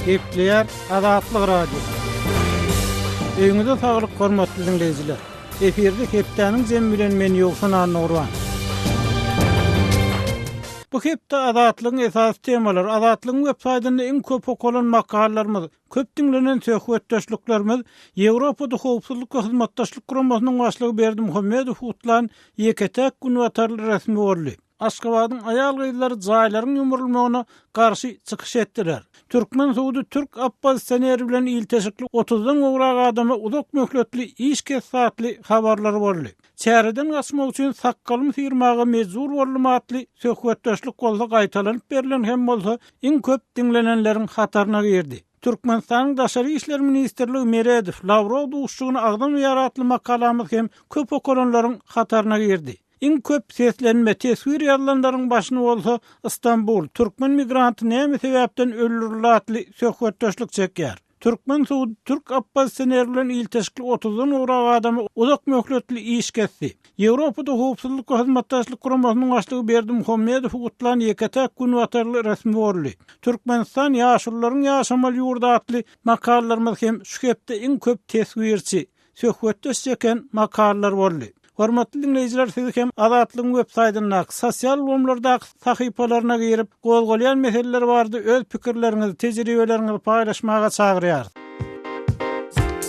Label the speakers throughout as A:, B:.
A: Gepleýär Azatlyk Radiosy. Öýüňize saglyk, hormatly diňleýjiler! Efirde hepdäniň jemi bilen men Ýowşan Annagurban. Bu hepde Azatlygyň esasy temalary, Azatlygyň websaýtynda iň köp okalan makalalarymyz, Köp diňlenen söhbetdeşliklerimiz Ýewropada Howpsuzlyk we Hyzmatdaşlyk Guramasynyň başlygy Berdimuhamedow gutlan ýeke-täk günbatarly resmi boldy. Aşgabadyň aýal-gyzlary jaýlaryň ýumrulmagyna garşy çykyş etdiler. Türkmen sudy türk oppozisioneri bilen ilteşikli otuzdan gowrak adama uzak möhletli iş kesdi atly habarlary boldy. Çäreden gaçmak üçin sakgalymy syrmaga mejbur boldum atly söhbetdeşlik bolsa gaýtalanyp berlen hem bolsa iň köp diňlenenleriň hataryna girdi. Türkmenistanyň Daşary işler ministrligi Meredow, Lawrow duşuşygyny agzamaýar atly makalamyz hem köp okalanlaryň hataryna girdi. Iň köp seslenme, teswir ýazylanlaryň başyny bolsa Stambul, Türkmen migranty näme sebäpden öldürildi atly söhbetdeşlik çekýär. Türkmen sudy türk oppozisioner bilen ilteşikli otuzdan gowrak adama uzak möhletli iş kesdi. Ýewropada Howpsuzlyk we Hyzmatdaşlyk Guramasynyň başlygy Berdimuhamedowy gutlan ýeke-täk günbatarly resmi boldy. Türkmenistan, ýaşulularyň ýaşamaly ýurdy atly makallalarymyz hem şu hepde iň köp teswirçi, Söhbetdeş çeken makallar boldy. Hormatly diňleýjiler siz hem Azatlygyň web saýtyndaky, sosial ulgamlardaky sahypalaryna girip, gozgalýan meseleler barada öz pikirleriňizi, tejribeleriňizi paýlaşmaga çagyrýarys.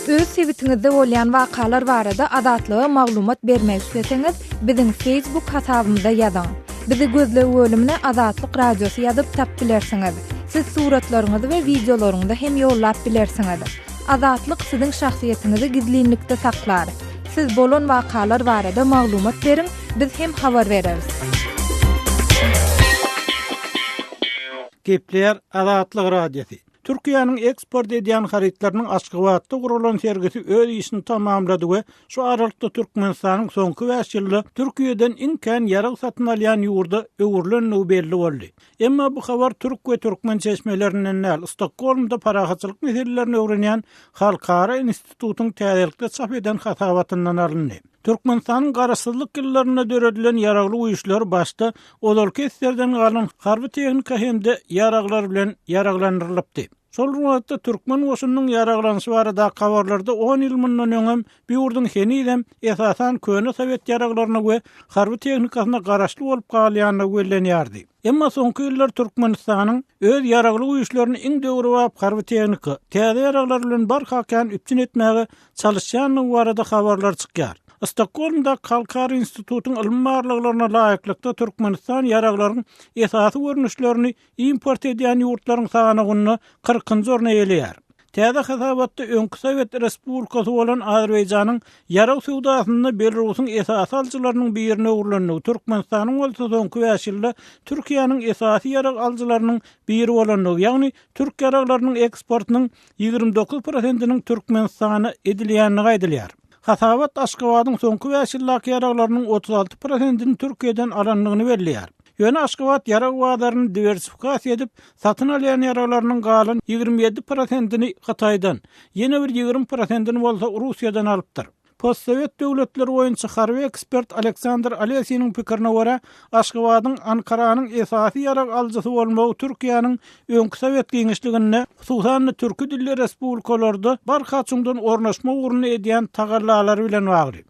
B: Öz sebitiňizde bolýan wakalar barada Azatlyga maglumat bermek isleseňiz, biziň Facebook hasabymyza ýazyň. Bizi gözleg bölümine Azatlyk Radiosy ýazyp tap bilersiňiz. Siz suratlaryňyzy we wideolaryňyzy hem ýollap bilersiňiz. Azatlyk siziň şahsyýetiňizi gizlinlikde saklar. Siz bolan wakalar barada maglumat beriň, biz hem habar bereris.
A: Gepleýär Azatlyk Radiosy. Türkiýäniň eksport edýän harytlarynyň Aşgabatda guralan sergisi öz işini tamamlady we şu aralykda Türkmenistanyň soňky bäş ýylda Türkiýeden iň kän ýarag satyn alýan ýurda öwrülendigi belli boldy. Emma bu habar türk we türkmen çeşmelerinden däl, Stokgolmda parahatçylyk meselelerini öwrenýän halkara institutyň täzelikde çap eden hasabatyndan alyndy. Türkmenistanyň garaşsyzlyk ýyllarynda döredilen ýaragly güýçler başda ozalky esserden galan harby tehnika hem-de ýaraglar bilen ýaraglandyrylypdy. Şol bir wagtda türkmen goşunynyň ýaraglanyşy baradaky habarlarda on ýyl mundan öňem Bu ýurduň henizem, esasan, köne sowet ýaraglaryna we harby tehnikasyna garaşly bolup galýandygy bellenýärdi. Emma soňky ýyllar Türkmenistanyň öz Ýaragly Güýçlerini iň döwrebap harby tehnika, täze ýaraglar bilen barha kän üpjün etmäge çalyşýandygy barada habarlar çykýar. Stokgolmdaky Halkara institutyň ylmy barlaglaryna laýyklykda Türkmenistan ýaraglaryň esasy görnüşlerini import edýän ýurtlaryň sanawynda kyrkynjy orny eýeleýär. Täze hasabatda öňki sowet respublikasy bolan Azerbaýjanyň ýarag söwdasynda Belarusyň esasy alyjylarynyň birine öwrülendigi, Türkmenistanyň bolsa soňky bäş ýylda Türkiýäniň esasy ýarag alyjylarynyň biri bolandygy, ýagny türk ýaraglarynyň eksportynyň ýigrimi dokuz prosentiniň Türkmenistana edilýändigi aýdylýar. Hasabat Aşgabadyň soňky bäş ýyldaky ýaraglarynyň otuz alty prosentini Türkiýeden alandygyny belleýär. Ýöne Aşgabat ýarag bazaryny diwersifikasiýa edip, satyn alýan ýaraglarynyň galan ýigrimi ýedi prosentini Hytaýdan, ýene bir ýigrimi prosentini bolsa Russiýadan alypdyr. Postsowet döwletleri boýunça harby ekspert Aleksandr Alesiniň pikirine görä, Aşgabadyň Ankaranyň esasy ýarag alyjysy bolmagy Türkiýäniň öňki Sowet giňişliginde, hususan-da türki dilli respublikalarda barha çuňdan ornaşma ugrunda edýän tagallalary bilen bagly.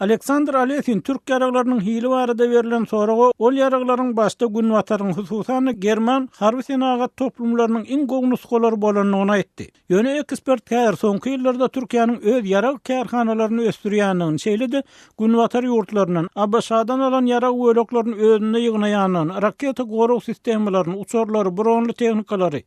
C: Aleksandr
A: Alesin türk ýaraglarynyň hili barada berlen soraga, ol ýaraglaryň başda Günbataryň, hususan-da, german harby-senagat toplumlarynyň iň gowy nusgalary bolandygyny aýtdy. Ýöne ekspert häzir soňky ýyllarda Türkiýäniň öz ýarag kärhanalaryny ösdürýändigini, şeýle-de Günbatar ýurtlaryndan, ABŞ-dan alan ýarag böleklerini özünde ýygnaýandygyny, raketa gorag sistemalaryny, uçarlary, bronly tehnikalary,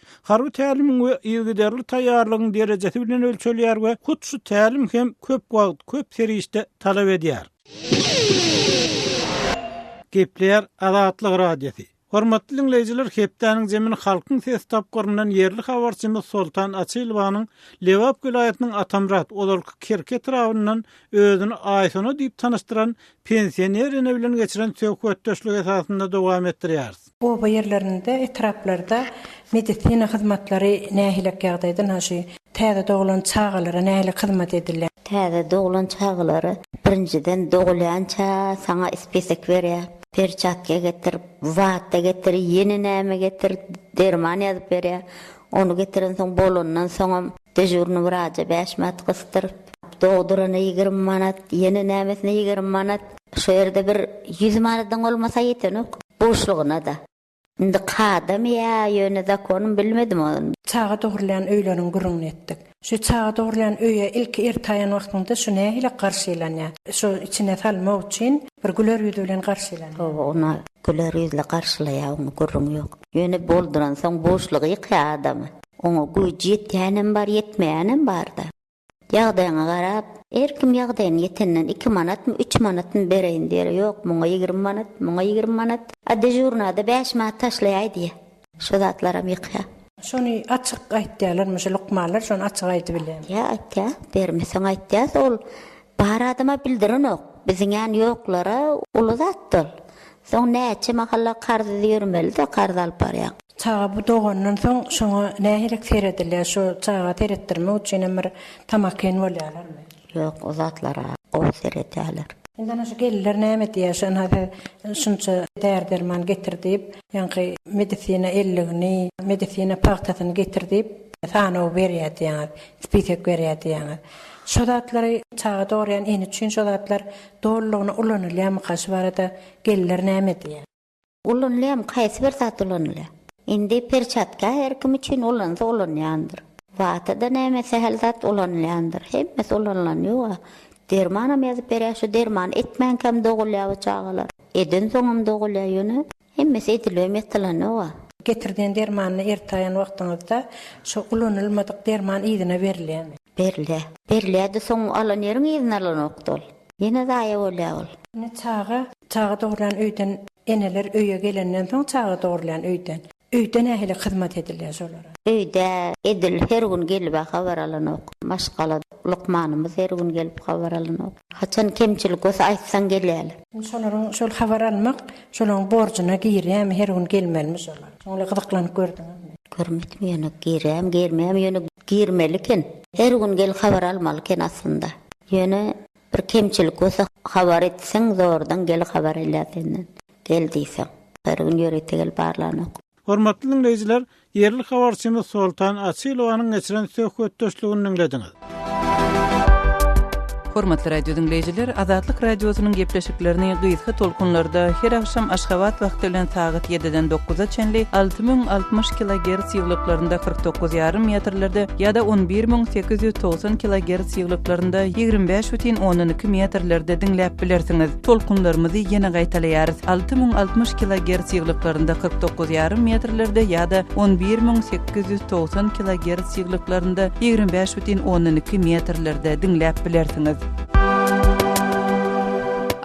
A: Harby tälimiň we yzygiderli taýýarlygyň derejesi bilen ölçelýär we hut şu tälim hem köp wagt, köp serişde talap edýär. Gepleýär Azatlyk Radiosy. Hormatly diňleýjiler, hepdäniň zemin Halkyň sesi tapgyryndan ýerli habarçymyz Soltan Açylowanyň Lebap welaýatynyň Atamyrat, ozalky Kerki etrabyndan özüni Aýsona diýip tanyşdyran pensioner ene bilen geçiren söhbetdeşligi esasynda dowam etdirýäris. Oba ýerlerinde,
D: etraplarda medisina hyzmatlary nähilek ýagdaýda, ynha şu täze doglan çagalara nähilek hyzmat edilýär? Täze doglan
E: çagalara birinjiden dogulýança saňa spesek berýär, perçatka getir, wata getir, ýene näme getir, derman ýazyp berýär. Ony getirensoň bolandan soňam dežurnyý wraja bäş manat gysdyryp, dogdurana ýigrimi manat, ýene nämesine ýigrimi manat. Şo ýerde bir ýüz manadyň bolmasa ýetenok buşlugyna-da. Indi kadamy ýa ýöne zakonym bilmedim ony. Çaga dogurylýan
D: öýleriň gürrüňini etdik. Şu çaga dogurlan öýe ilki ertaýan wagtyňda şu nähili garşylanýar? Şu içine salmak üçin bir güler ýüz bilen garşylanýar. Hawa, ony güler
E: ýüzli garşylaýar, oňa gürrüň ýok. Ýöne bolduransoň boşlugy ýykýar adamy. Oňa güýji ýetýänem bar, ýetmeýänem bar-da. Ýagdaýyňa garap, her kim ýagdaýyna ýetenden iki manatmy, üç manatmy bereýin diýer. Ýok, muňa ýigrimi manat, muňa ýigrimi manat. A dežurnada bäş manat taşlaýaý diýer. Şu zatlaram ýykýa. Şony açyk
D: aýtýalarmy şu lukmanlar şony açyk aýdybilýämi. Ýa aýtýa
E: bermeseň aýtýas ol bar adama bildirenok biziň ýan ýoklara uly zatda ol soň näçe mahalla karzsyz ýörmelide karz alyp barýaň. Çaga bu dogandan
D: soň şoňa nähili seredilýär şu çaga seretdirmek üçinem bir tamakin bolýalarmy. Ýok o zatlara
E: gowy seredýäler. Indi ana şu gelinler
D: näme diýýär şu ynha siz şunça däri derman getir diýip ýaňky medisina elligini medisina pagtasyny getir diýip sanaw berýär diýýäňiz spisek berýär diýýäňiz şo zatlary çaga dogurýan ene üçin şo zatlar dolulygyna ulanylýamyka şu barada gelinler näme diýýär. Ulanylýarmy?
E: Haýsy bir zat ulanylýar? Indi perçatka her kim üçin ulansa ulanýandyr. Wata-da näme sähel zat ulanylýandyr. Hemmesi ulanylan ýog-a. Dermanam ýazyp berýär. Şu dermany etmänkäm dogulýar bu çagalar. Edensoňam dogulýar ýöne hemmesi edilibem ýatylanok-a. Getirden
D: dermanyny ertaýan wagtyňyzda şu ulanylmadyk derman yzyna berilýärmi? Berilýär.
E: Berilýär-de soň alan ýeriň yzyna alanokdy ol. Ýene zaýa bolýa ol. Ine çaga,
D: çaga dogurlan öýden eneler öýe gelenden soň çaga dogurlan öýden. Öýde nähili hyzmat edilýä şolara? Öýde edil
E: her gün gelibä habar alanok. Maşgala lukmanymyz her gün gelip habar alanok. Haçan kemçilik bolsa aýtsaň gelýäler. Şolaryň şol
D: habar almak şolaň borjuna girýämi her gün gelmelimi şolar? Şoňly gyzyklanyp gördüňizmi? Görmedim ýöne
E: girýäm girmeýäm ýöne girmeli eken. Her gün gelip habar almaly eken aslynda. Ýöne bir kemçilik bolsa habar etseň zordan gelip habar alýar senden. Gel diýseň. Her gün ýörite gelip barlanok. Hormatly diňleýjiler,
A: ýerli habarçymyz Soltan Açylowanyň geçiren söhbetdeşligini diňlediňiz.
F: Hormatly radio diňleýjiler, Azatlyk Radiosynyň gepleşiklerini gysga tolkunlarda her agşam Aşgabat wagty bilen sagat 7-den 9-a çenli alty müň altmyş kilogerts ýyglyklarynda kyrk dokuz ýarym metrlerde ýa-da on bir müň sekiz ýüz togsan kilogerts ýyglyklarynda ýigrimi bäş bütin ondan iki metrlerde diňläp bilersiňiz. Tolkunlarymyzy ýene gaýtalaýarys, alty müň altmyş kilogerts ýyglyklarynda kyrk dokuz ýarym metrlerde ýa-da on bir müň sekiz ýüz togsan kilogerts ýyglyklarynda ýigrimi bäş bütin ondan iki metrlerde diňläp bilersiňiz.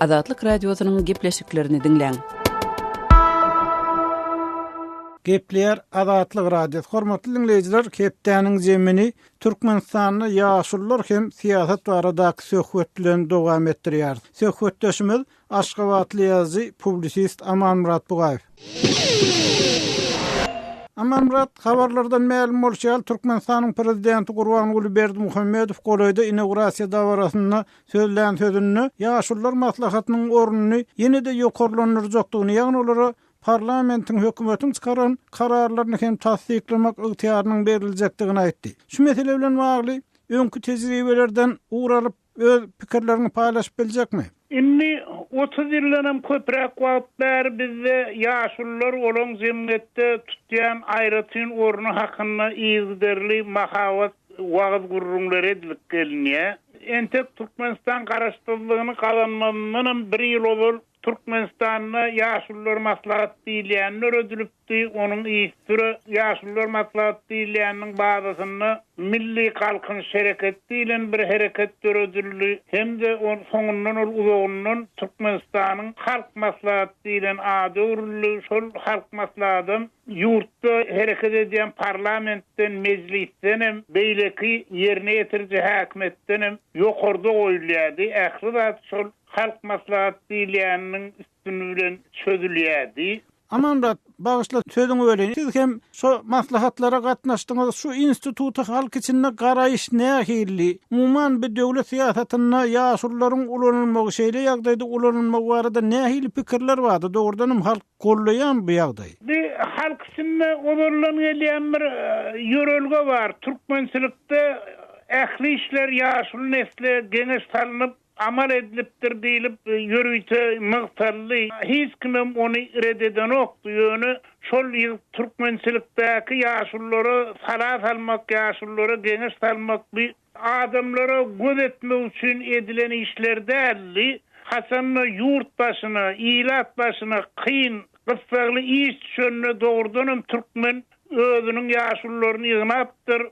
F: Azatlyk Radiosynyň gepleşiklerini diňläň.
A: Gepleýär Azatlyk Radiosy. Hormatly diňleýjiler, hepdäniň zemini Türkmenistanda ýaşulular hem syýasat baradaky söhbet bilen dowam etdirýär. Söhbetdeşimiz Aşgabatly ýazyjy, publisist Amanmyrat Bugaýew. Amanmyrat, habarlardan mälim bolşy ýaly, Türkmenistanyň Prezidenti Gurbanguly Berdimuhamedow golaýda inaugurasiýa dabarasynda sözlän sözünde Ýaşulular maslahatynyň ornuny ýene-de ýokarlandyrjakdygyny, ýagny olara parlamentiň, hökümetiň çykaran kararlaryny hem tassyklamak ygtyýarynyň beriljekdigini aýtdy. Şu mesele bilen bagly öňki tejribelerden ugur alyp, Öz pikirleriňi paýlaşyp biljekmi? Indi
G: otuz ýyldanam köpräk wagt bäri bizde ýaşulular olaň jemgyýetde tutýan aýratyn orny hakynda yzygiderli mahabat wagyz gürrüňleri edilip gelinýär. Entek Türkmenistan garaşsyzlygyny gazanmazyndanam bir ýyl ozal Türkmenistanda Ýaşulular maslahaty diýilýäni döredilipdi, onuň yzsüre Ýaşulular maslahaty diýilýäniniň bazasynda Milli galkynyş hereketi diýlen bir hereket döredildi hem-de ol soňundan ol uzagyndan Türkmenistanyň Halk maslahaty diýlen ada öwrüldi, şol Halk maslahatam ýurtda hereket edýän parlamentden, mejlisdenem, beýleki ýerine ýetiriji häkimiýetdenem ýokarda goýulýardy, ähli zat şol Halk maslahat diýilýäniniň üstüni bilen çözülýädi. Amanmyrat,
A: bagyşla sözüňi böleyim. Siz hem şo maslahatlara gatnaşdyňyz. Şu instituta halk içinde garaýyş nähilli? Umuman bi döwlet syýasatynda ýaşulularyň ulanylmagy, şeýle ýagdaýda ulanylmagy barada nähili pikirler bardy? Dogrudanam halk goldaýarmy bu ýagdaýy? Bi halk
G: içinde ozaldan gelýän bir ýörelge bar. Türkmençilikde ähli işler ýaşuly nesle geňeş salnyp, amal edilipdir diýlip, ýörite nygtaldy. Hiç kimem ony ret edenokdy. Ýöne şol ýyl türkmençilikdäki ýaşululara sala salmak, ýaşululara geňeş salmak bi adamlara göz etmek üçin edilen işler däldi. Haçan-da ýurt başyna, ilat başyna kyn, gyssagly iş düşende dogrudanam türkmen özüniň ýaşulularyny ýygnapdyr.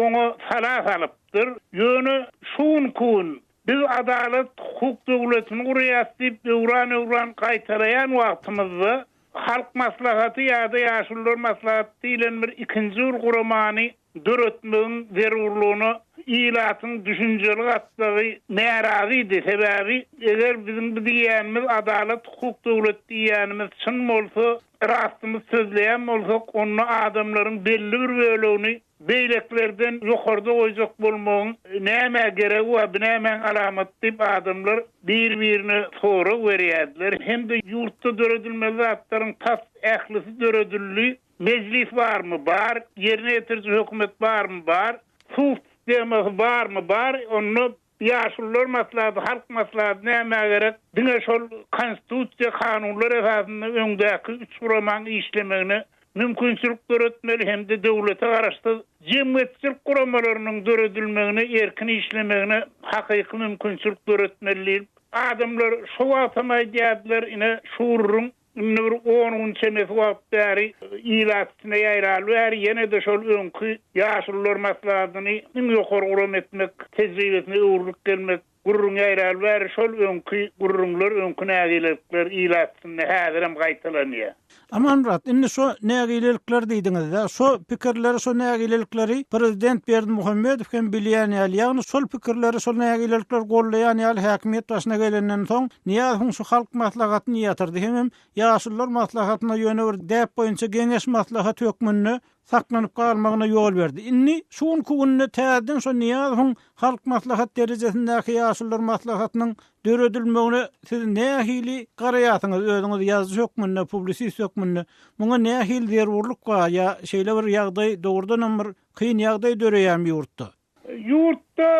G: oňa sala salypdyr. Ýöne şu günki gün biz adalat, hukuk döwletini gurýas diýip öwran-öwran gaýtalaýan wagtymyzda Halk Maslahaty ýa-da Ýaşulular Maslahaty diýlen bir ikinji bir guramany döretmegiň zerurlygyna ilatyň düşünjeli gatlagy närazydy. Sebäbi eger biziň bu diýýänimiz adalat, hukuk döwleti diýýänimiz çyn bolsa, Rastymyzy sözleýän bolsak, onda adamlaryň belli bir bölegini beýlekilerden ýokarda goýjak bolmagyň nämä geregi bar, bu nämäň alamaty diýip, adamlar bir-birine sorag berýärdiler hem-de ýurtda döredilmeli zatlaryň tas ählisi döredildi, Mejlis barmy? Bar. Ýerine ýetiriji hökümet barmy? Bar. Suw sistemasy barmy? Bar. Onda Ýaşulular maslahaty, halk maslahaty nämä gerek? Diňe şol konstitusiýa, kanunlar esasynda öňdäki üç guramaň işlemegine mümkinçilik döretmeli hem-de döwlete garaşsyz jemgyýetçilik guramalarynyň döredilmegine, erkin işlemegine hakyky mümkinçilik döretmeli diýlip, adamlar şo wagtam aýdýardylar, ine, şuruň. Indi bir on gün çemesi wagt bäri, ilat içinde ýaýraly bäri ýene-de şol öňki Ýaşulular maslahatyny iň ýokary guram etmek tejribesine öwrülip gelmek gürrüňi ýaýraly bäri şol öňki gürrüňler, öňki nägilelikler ilat içinde häzirem gaýtalanýar. Amanmyrat, indi
A: şo nägilelikler diýdiňiz-dä, şo pikirleri, şo nägilelikleri prezident Berdimuhamedow hem bilýän ýaly, ýagny şol pikirleri, şol nägilelikleri gollaýan ýaly häkimiýet başyna gelenden soň Nyýazowyň şu halk maslahatyny ýatyrdy hemem ýaşulular maslahatyna ýöne bir däp boýunça geňeş maslahat hökmünde saklanyp galmagyna ýol berdi. Indi şu günki günde täzeden şo Nyýazowyň halk maslahat derejesindäki ýaşulular maslahatynyň döredilmegine siz nähili garaýarsyňyz özüňiz ýazyjy hökmünde, publisist hökmünde? Muňa nähili zerurlyk bar ýa şeýle bir ýagdaý dogrudanam bir kyn ýagdaý döreýärmi ýurtda? Ýurtda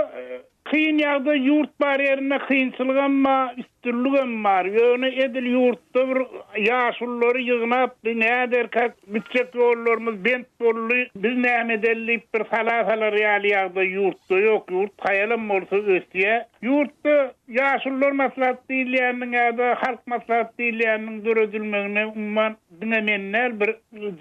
G: kyn ýagdaý ýurt bar ýerinde kynçylygam ba üstünligem bar ýöne edil ýurtda bir ýaşululary ýygnap bir näderkak gitjek ýollarymyz bent boldy biz näme edeli diýip bir sala salar ýaly ýagdaý ýurtda ýok ýurt haýalam bolsa ösýä ýurtda ýaşullar maslahaty diýilýäniniň ýada halk maslahaty diýilýäniniň döredilmegine umuman Diňe men däl, bir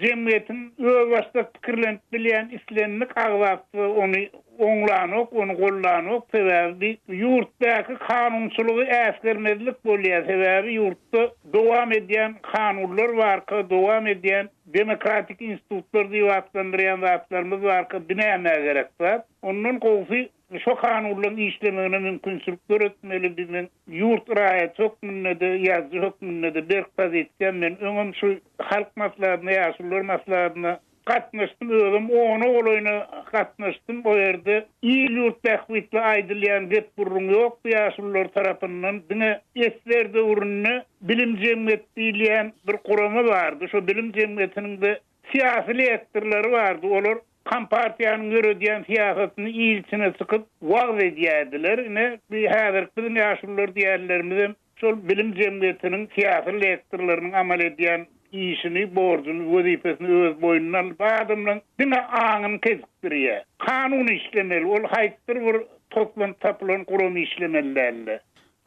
G: jemgyýetiň özbaşdak pikirlenip bilýän islendik agzasy-da ony oňlanok, ony gollanok. Sebäbi bi ýurtdaky kanunçylygy äsgermezlik bolýar. Sebäbi ýurtda dowam edýän kanunlar barka, dowam edýän demokratik institutlar diýip atlandyrýan zatlarymyz barka, bi nämä gerek zat. Ondan gowusy Şo kanunlaryň işlemegine mümkinçilik döretmeli biziň ýurt raýaty hökmünde-de, ýazyjy hökmünde-de berk pozisiýa. Men öňem şu Halk Maslahatyna, Ýaşulular Maslahatyna gatnaşdym, özüm ona golaýyna gatnaşdym. O ýerde il-ýurt bähbitli aýdylýan gep-gürrüň ýokdy ýaşulular tarapyndan. Diňe SSR döwründe Bilim jemgyýeti diýilýän bir gurama bardy. Şo Bilim jemgyýetiniň-de Syýasy lektorlary bardy, olar kompartiýanyň ýöredýän syýasatyny il içine çykyp wagyz edýärdiler. Ine, bu häzirki biziň ýaşulular diýýänlerimizem şol bilim jemgyýetiniň syýasy lektorlarynyň amal edýän işini, borjuny, wezipesini öz boýnuna alyp, adamlaryň diňe aňyny kesikdirýär. Kanun işlemeli, ol haýsydyr bir toplan-tapylan guram işlemeli däldi.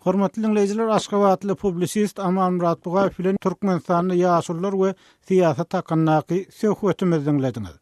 G: Hormatly
A: diňleýjiler, aşgabatly publisist Amanmyrat Bugaýew bilen Türkmenistanda ýaşulular we syýasat hakyndaky söhbetimizi diňlediňiz.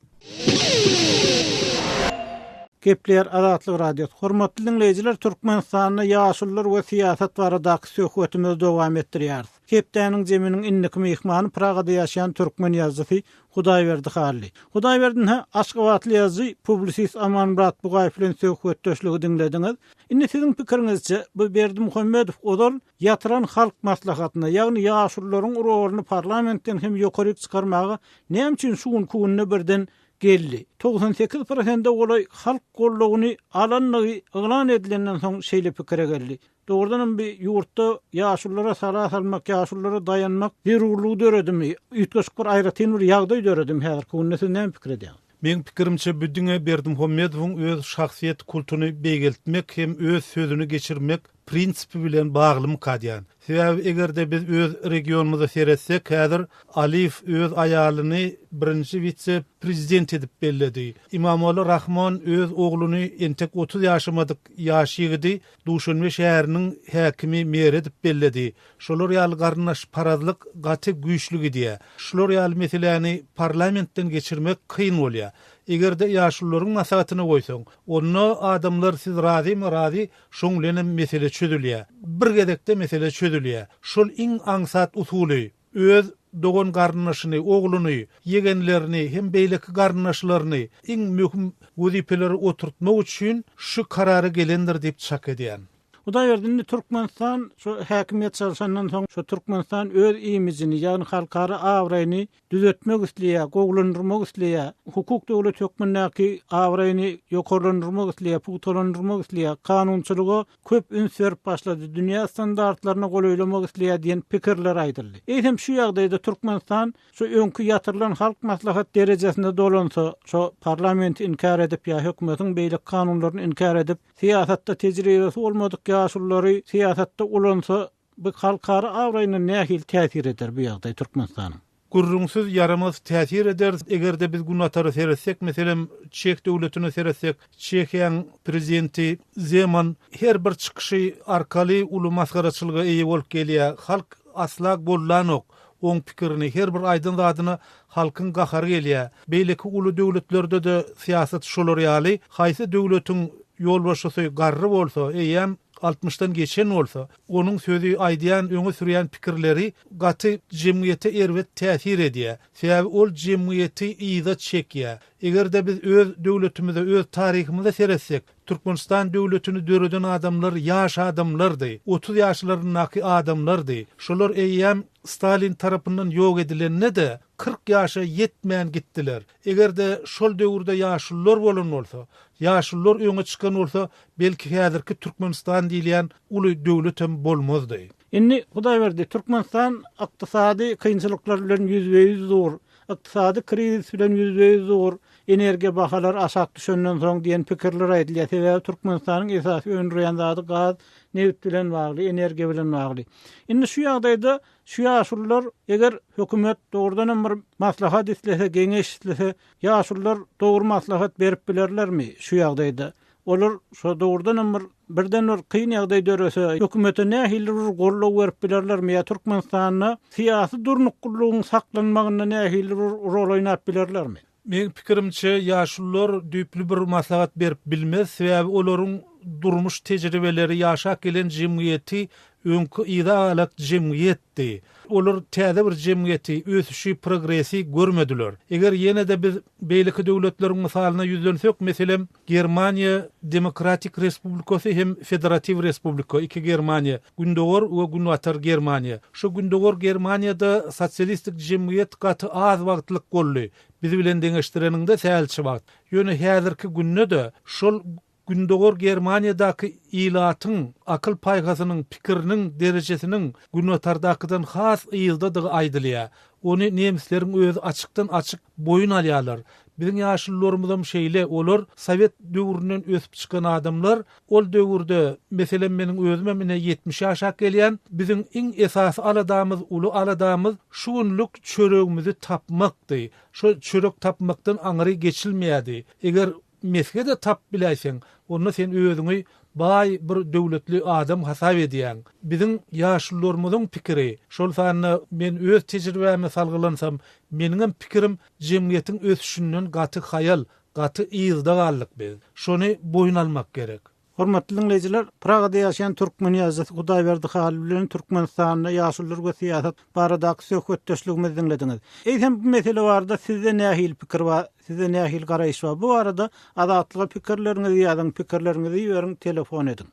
A: Gepleýär Azatlyk Radiosy, Hormatly diňleýjiler, Türkmenistanda ýaşulular we syýasat baradaky söhbetimizi dowam etdirýäris. Hepdäniň zeminiň indiki myhmany Pragada ýaşaýan türkmen ýazyjysy Hudaýberdi Hally. Hudaýberdi nä, aşgabatly ýazyjy, publisist Amanmyrat Bugaýew bilen söhbetdeşligi diňlediňiz. Indi siziň pikiriňizçe, bu Berdimuhamedow ozal ýatyran Halk Maslahatyna, ýagny ýaşulularyň rolyny parlamentden hem ýokaryk çykarmaga näme üçin şu günki günde birden geldi? Togsan sekiz prosente golaý halk goldawyny alandygy yglan edilenden soň şeýle pikire geldi. Dogrudan hem bi ýurtda ýaşulylara sala salmak, ýaşulylara daýanmak zerurlygy döredimi? Üýtgeşik bir aýratyn bir ýagdaý döredimi häzirki günde? Siz näme pikir edýäňiz? Meň pikirimçe bu
H: diňe Berdimuhamedowyň öz şahsyýet kultuny beýgeltmek hem öz sözüni geçirmek prinsipi bilen baglymyka diýän. Sebäbi eger-de biz öz regionymyza seretsek häzir Aliýew öz aýalyny birinji wise prezident edip belledi. Imamogly Rahmon öz ogluny entek otuz ýaşamadyk ýaş ýigidi Duşanbe şäheriniň häkimi Mer edip belledi. Şolar ýaly garyndaşparazlyk gaty güýçli gidýär. Şular ýaly meseläni parlamentden geçirmek kyn bolýar. Eger-de ýaşulularyň maslahatyna goýsaň, onda adamlar siz razymy razy, şoň bilenem mesele çözülýär. Bir gezekde mesele çözülýär. Şol iň aňsat usuly. Öz dogan-garyndaşyny, ogluny, ýegenlerini hem beýleki garyndaşlaryny iň möhüm wezipelere oturtmak üçin şu karara gelendir diýip çak edýän. Hudaýberdi indi
A: Türkmenistan şu häkimiýet çalşandan soň şu Türkmenistan öz imijini, ýagny halkara abraýyny düzetmek isleýär, gowulandyrmak isleýär, hukuk döwleti hökmündäki abraýyny ýokarlandyrmak isleýär, pugtalandyrmak isleýär, kanunçylyga köp üns berip başlady, dünýä standartlaryna golaýlamak isleýär diýen pikirler aýdyldy. Eýsem şu ýagdaýda Türkmenistan şu öňki ýatyrylan Halk Maslahat derejesinde dolansa, şo parlamenti inkär edip ýa hökümetiň beýleki kanunlaryny inkär edip, syýasatda tejribesi bolmadyk ýaşululary syýasatda ulansa, Bu halkara abraýyna nähili täsir eder bu ýagdaý Türkmenistanyň? Gürrüňsiz
H: ýaramaz täsir eder. Eger-de biz Günbatara seretsek, meselem, Çeh döwletine seretsek, Çehiýaň prezidenti Zeman her bir çykyşy arkaly uly masgaraçylyga eýe bolup gelýär. Halk asla goldanok oň pikirini. Her bir aýdan zadyna halkyň gahary gelýär. Beýleki uly döwletlerde-de syýasat şolar ýaly. Haýsy döwletiň ýolbaşçysy garry bolsa, eýýäm Altmyşdan geçen bolsa, onuň sözi, aýdýan, öňe sürýän pikirleri gaty jemgyýete erbet täsir edýär. Sebäbi ol jemgyýeti yza çekýär. Eger-de biz öz döwletimize, öz taryhymyza seretsek, Türkmenistan döwletini döreden adamlar ýaş adamlardy, otuz ýaşlaryndaky adamlardy. Şolar eýýäm Stalin tarapyndan ýok edilende-de, kyrk ýaşa ýetmän gitdiler. Eger-de şol döwürde ýaşulular bolan bolsa, ýaşulular öňe çykan bolsa, belki häzirki Türkmenistan diýilýän uly döwletem bolmazdy. Indi Hudaýberdi,
A: Türkmenistan ykdysady kynçylyklar bilen ýüzbe-ýüz dur, ykdysady krizis bilen ýüzbe-ýüz dur, energiýa bahalary aşak düşenden soň diýen pikirler aýdylýar. Sebäbi Türkmenistanyň esasy öndürýän zady gaz, nebit bilen bagly, energiýa bilen bagly. Indi şu ýagdaýda Şu ýaşulular eger hökümet dogrudanam bir maslahat islese geňeş islese ýaşulular dogry maslahat berip bilerlermi şu ýagdaýda olar şo dogrudanam bir birden bir kyn ýagdaý dörese hökümete nähili bir goldaw berip bilerlermi ýa türkmenistanda syýasy durnuklylygyň saklanmagynda nähili bir rol oýnap bilerlermi. Meň pikirimçe,
H: ýaşulular düýpli bir maslahat berip bilmez, sebäbi olaryň durmuş tejribeleri, ýaşap gelen jemgyýeti öňki yza-galak jemgyýetdi. Olar täze bir jemgyýeti, ösüşi, progresi görmediler. Eger ýene-de biz beýleki döwletleriň mysalyna ýüzlensek, meselem, Germaniýa Demokratik Respublikasy hem Federatiw Respublika, Iki Germaniýa, Gündogar we Günbatar Germaniýa. Şu Gündogar Germaniýada sosialistik jemgyýet gaty az wagtlyk boldy, biz bilen deňeşdireniňde sälçe wagt. Ýöne häzirki günde-de şol Gündogar Germaniýadaky ilatyň akyl-paýhasynyň, pikiriniň derejesiniň Günbatardakydan has yzdadygy aýdylýar. Ony nemisleriň özi açykdan-açyk boýun alýarlar. Biziň ýaşulularymyzam şeýle, olar sowet döwründen ösüp çykan adamlar. Ol döwürde, meselem, meniň özümem ine ýetmişe aşak gelýän, biziň iň esasy aladamyz, uly aladamyz şu günlük çöregimizi tapmakdy. Şo çörek tapmakdan aňry geçilmeýärdi. Eger mesge-de tapyp biläýseň, onda sen özüňi baý, bir döwletli adam hasap edýäň. Biziň ýaşulularymyzyň pikiri, şol sanda men öz tejribäme salgylansam, meniňem pikirim, Jemgyýetiň ösüşinden gaty haýal, gaty yzda galdyk biz. Şony boýun almak gerek. Hormatly diňleýjiler,
A: Pragada ýaşaýan türkmen ýazyjysy Hudaýberdi Halyl bilen Türkmenistanda ýaşulular we syýasat baradaky söhbetdeşligimizi diňlediňiz. Eýsem bu mesele barada sizde nähili pikir bar, sizde nähili garaýyş bar? Bu barada Azatlyga pikirleriňizi ýazyň, pikirleriňizi iberiň, telefon ediň.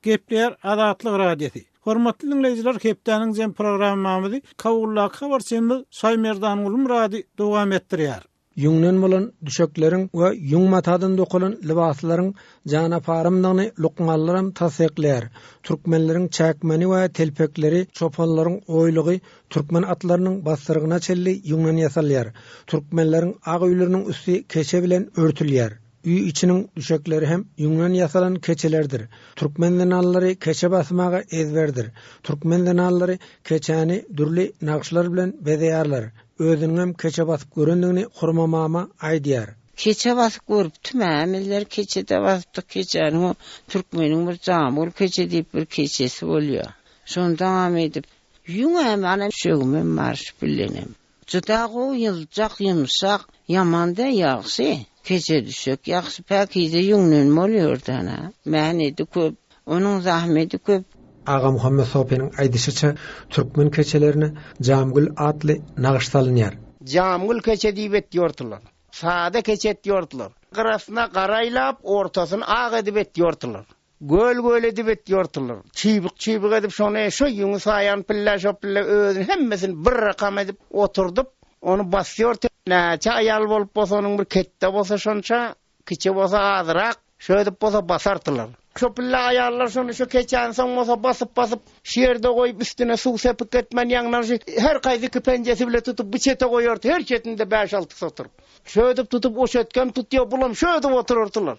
A: Gepleýär Azatlyk Radiosy. Hormatly diňleýjiler hepdäniň jemi programmamyzy Kabuldaky habarçymyz Şaýmerdan Gulmyrady dowam etdirýär. Ýüňden bolan
I: düşekleriň we ýüň matadan dokalan lybaslaryň jan aparymdygyny lukmanlaram tassyklaýar. Türkmenleriň çäkmeni we telpekleri, çopanlaryň oýlugy türkmen atlarynyň bassyrygyna çenli ýüňden ýasalýar. Türkmenleriň ak öýleriniň üsti keçe bilen örtülýär. Öý içiniň düşekleri hem ýüňden ýasalan keçelerdir. Türkmen zenanlary keçe basmaga ezberdir. Türkmen zenanlary keçäni dürli nagyşlar bilen bezeýärler. Özüniňem keçe basyp görendigini Hurma mama aýdýar. Keçe basyp
J: görüpdim, hämizler keçe-de basypdyk. Keçäniň o türkmeniň bir Jamul keçe diýip bir keçesi bolýar. Şondaňam edip, ýüňem, ana, düşegimem bar, şu bilenem. Juda gowy ýyljak ýumşak ýamanda ýagşy keçe düşek ýagşy päkize ýüňden bolýordana mäheti köp onuň zahmeti köp. Agamuhammet
I: Sopynyň aýdyşyça türkmen keçelerine Jamgül atly nagyş salynýar. Jamgül keçe
K: diýip etýortylar. Sada keçe etýortylar. Gyrasyna gara aýlap ortasyny ak edip etýortylar. Göl-göl edip et ýortular. Çybyk-çybyk edip şony, şo ýüňi saýan pillä şo pillä özüni hemmesini bir rakam edip oturdyp, ony basýorty. Näçe aýal bolup bolsa onuň bir ketde bolsa şonça, kiçi bolsa azyrak, şöýdüp bolsa basartylar. Şo pillä aýallar şony şo keçäni soň bolsa basyp-basyp, şu ýerde goýup üstüne suw sepik etmän ýaňyndan şu her kaýsy iki penjesi bile tutup bu çete goýarty, her çetinde bäş-altysy oturyp. Şöýdüp tutup o çetkem tutýar, bulam şöýdüp oturartylar.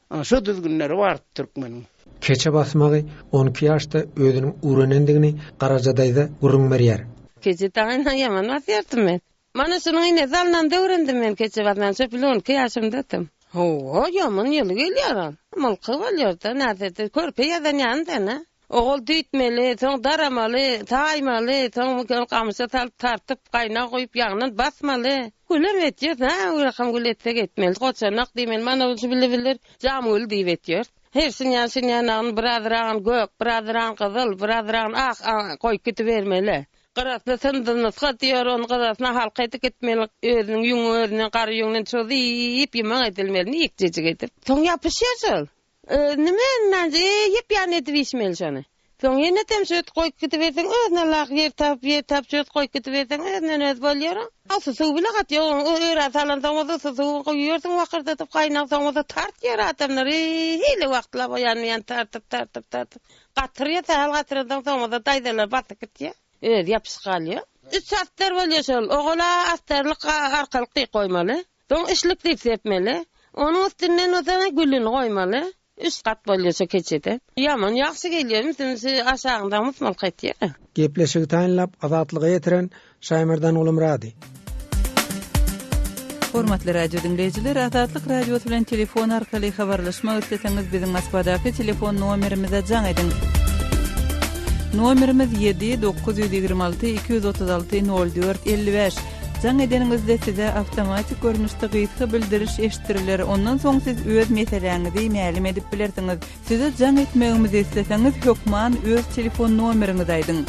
K: Ana şo düzgünleri bardy türkmeniň. Keçe basmagy
I: on iki ýaşda özüniň urenendigini Garaja daýza gürrüň berýär. Keçe daýyna
J: ýaman basýardym men. Mana şunuň ine zalynanda öwrendim men keçe basmagy şo bir on iki ýaşymdakym. Hawa, ýaman ýyly gelýär ol. Mulky bolýar-da, näderde körpe ýazan ýaly däl-ä. Ogul düýtmeli, soň daramaly, saýmaly, soň muny gamyşa salyp, tartyp, gaýnaga guýup, ýagnan basmaly. Gülem etýäs, hä, bir akşam gül etsek etmeli, goçanak diýmeli, mana bu şibili-bilidir, jamgül diýip etýäris. Her synýan synýanagyny bir azragyn gök, bir azragyn gyzyl, bir azragyn ak goýup gidibermeli. Gyrasyny syndynysga diýer, ony gyrasyna halka edip gitmeli, özüniň ýüňi özünden, gara ýüňünden çyzy-yp ýyman edilmeli, nikjejik edip. Soň ýapyşýar şol. Nime ynanç, eý, ýyp-ýan edip içmeli şony. Soň ýenetem şöt goýup gidiberseň, özüne laýyk ýer tapyp, ýer tapyp şöt goýup gidiberseň, özünden-özi bolýar-a. Awsy suw bile gat ýok, oň örän salansoň bolsa awsy suwy guýýarsyň wakyrdadyp, gaýnag soň bolsa tartýar adamlar, eý-hili wagtlap o ýan-bu ýany tartyp, tartyp, tartyp, gatyrýar, sähel gatyransoň soň bolsa daýzalar basyp gitýär, özi ýapyşyp galýar. Üç astar bolýar şol, ogal-a astarlyk, arkalyk diýip goýmaly. Soň işlik diýip sepmeli. Onuň üstünden bolsa gülüni goýmaly. Üç gat bolýar şu keçede. Ýaman ýagşy gelýär, üstüňi aşagyňdan musmalka etýär. Gepleşigi taýynlap
I: Azatlyga ýetiren Şaýmardan Gulumyrady.
F: Hormatly radio diňleýjiler, Azatlyk radiosy bilen telefon arkaly habarlaşmak isleseňiz biziň Moskvadaky telefon nomerimize jaň ediň. Nomerimiz ýedi dokuz ýüz ýigrimi alty iki ýüz otuz alty nol dört elli bäş. Jaň edeniňizde size awtomatik görnüşde gysga bildiriş eşitdiriler, ondan soň siz öz meseläňizi mälim edip bilersiňiz. Size jaň etmegimizi isleseňiz, hökman öz telefon nomeriňizi aýdyň.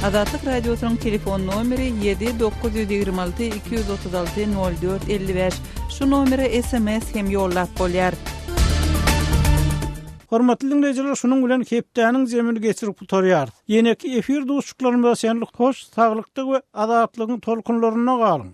F: Azatlyk Radiosynyň telefon nomeri ýedi dokuz ýüz ýigrimi alty iki ýüz otuz alty nol dört elli bäş. Şu nomere sms hem ýollap bolýar.
A: Hormatly diňleýjiler şunuň bilen hepdäniň jemini geçirip gutarýarys. Ýeneki efir duşuşyklarymyza çenli hoş saglykda we azatlygyň tolkunlarynda galyň!